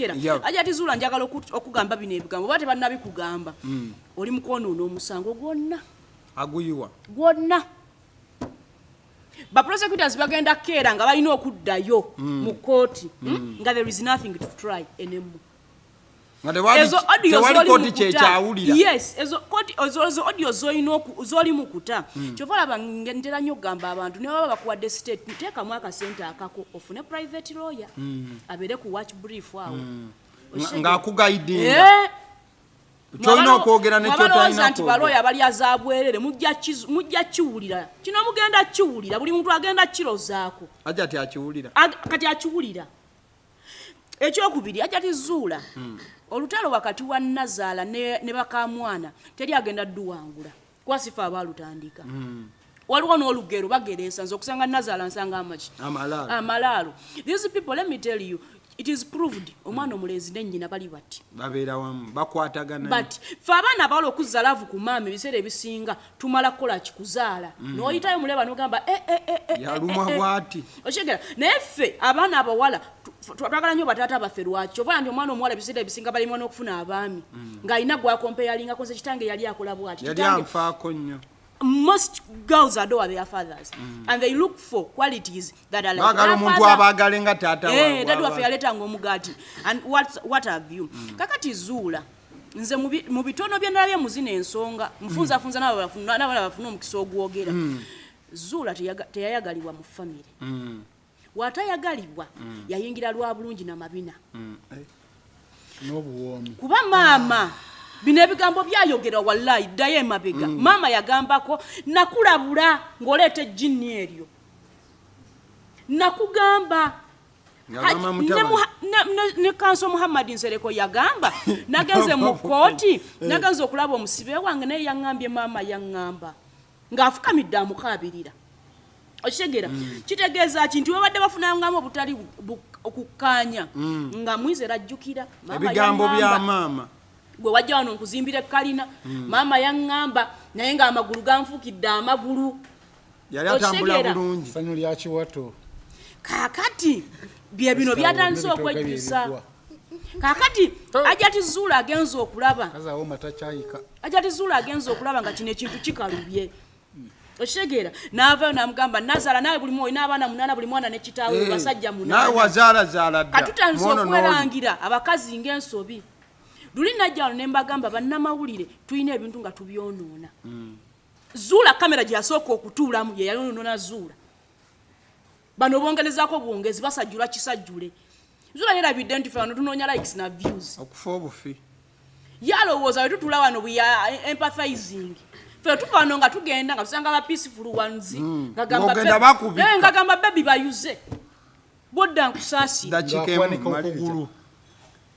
yep. aja tizula njagala okugamba bino ebigambo bate banabi kugamba mm. oli mukwono no musango gwonna aguyiwa gwonna ba prosecutors bagenda kera nga balina okuddayo mm. mu kooti mm. mm. nga there is nothing to try enemu ezo audio zoli mukuta yes ezo koti ezo audio zoli noku zoli mukuta mm. chovala bangentera nyo gamba abantu ne baba bakuwa de state teka mwaka center akako ofune private lawyer mm. abere ku watch brief awo mm. ng'akugaidinga eh? kyolina okwogera nekyotalinako nti balooya balya za bwerere mujja kiwulira kino mugenda kiwulira buli muntu agenda kirozaako aja ti akiwulira kati akiwulira ekyokubiri aja tizuula hmm. olutalo wakati wa nazaala ne bakamwana teri agenda duwangula kwasifa abaalutandika mm. waliwo n'olugero bagereesa nze okusanga nazaala nsanga amaki amalaalo these people let me tell you it is proved omwana omulenzi nenyina bali bati babeera wamu bakwatagana but fe abaana abawala okuzza laavu ku maama ebiseera ebisinga tumala kukola kikuzaala mm. noyitayo muleba nogamba eh, eh, eh, yalumwa bwati okyegera naye ffe abaana abawala twagala nyo batata baffe lwaki kyova yambi omwana omuwala ebiseera ebisinga balimwa n'okufuna abaami mm. ng'alina gwakompeyalingako nze kitange yali akola bwati yali anfaako nnyo most girls adore their fathers mm. and they look for qualities that are like bagala omuntu abagale nga tata eh dadu wafe yaleta ngo mugati and what what have you mm. kakati zula nze mu bitono bye nalabye muzina ensonga mfunza mm. funza nabo bafuna nabo bafuna omukisa ogwogera mm. zula teyayagalibwa mu family mm. watayagalibwa mm. yayingira lwa bulungi na mabina mm. eh. n'obuwoomi kuba maama ah. bino ebigambo byayogera wallayi ddayo emabega mm. maama yagambako nakulabula ng'oleeta ejjinni eryo nakugamba ne kanso muhammadi nsereko yagamba nagenze mu kkooti eh. nagenze okulaba omusibe wange naye yaŋŋambye maama yaŋŋamba ng'afukamidde amukaabirira okitegera mm. kitegeeza ki nti webadde bafunangamu obutali okukkaanya mm. nga mwiza era ajjukira ebigambo bya maama gwe wajja wano nkuzimbira ekkalina mm. maama yaŋŋamba naye ng'amagulu ganfuukidde amagulu yali atambula bulungi sanyu lyakiwato kaakati bye bino byatandise okwejjusa kakati oh. ajati zuula agenza okulaba ajati zuula agenza okulaba nga kino ekintu kikalubye okitegeera naavayo namugamba nazaala nawe buli mwoyo n'abaana munaana buli mwana ne kitaawe eh, basajja munaanakatutandisa okwerangira abakazi ng'ensobi luli najja wano ne mbagamba bannamawulire tulina ebintu nga tubyonoona hmm. zuula kamera gyeyasooka okutuulamu yeyayonoona zuula bano bongerezaako bwongezi basajjula kisajjule zula yerabidde nti fe bano tunoonya likes na views okufa obufi yalowooza we tutula wano we are empathizing fe tuva wano nga tugenda nga tusanga ba peaceful ones hmm. ngagamba bebi eh, bayuze bodda nkusaasira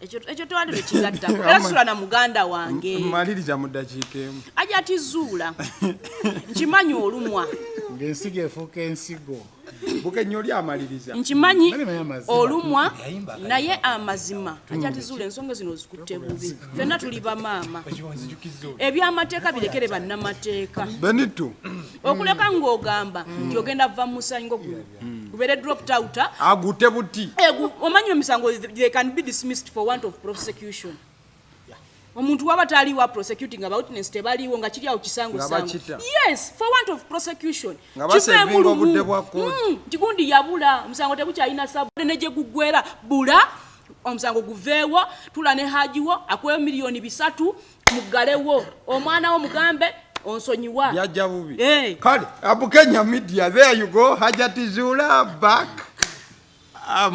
ekyo tewandi lwekigattako era sula na muganda wange maliriza mu ddakiika emu aja ati zuula nkimanyi olumwa ng'ensigo efuuka ensigo bukenyo oli amaliriza nkimanyi olumwa naye amazima aja ati zuula ensonga zino ozikutte bubi fenna tuli bamaama ebyamateeka birekere bannamateeka benitu okuleka ng'ogamba nti ogenda va musanyi ngogumu Hmm. ubeere dropped out ah? agute buti eh, omanyi emisango they can be dismissed for want of prosecution omuntu waba taliwa prosecuting about nes tebaliwo nga kiri awo kisangosango yes for want of prosecution kigundi hmm, yabula omusango tegukyalina sabu ne gye guggwera bula omusango guveewo tula ne hajiwo akweyo miliyoni bisatu muggalewo omwana wo mugambe onsonyiwa yajja bubi eh. kale abukenya media there you go hajati zula back um,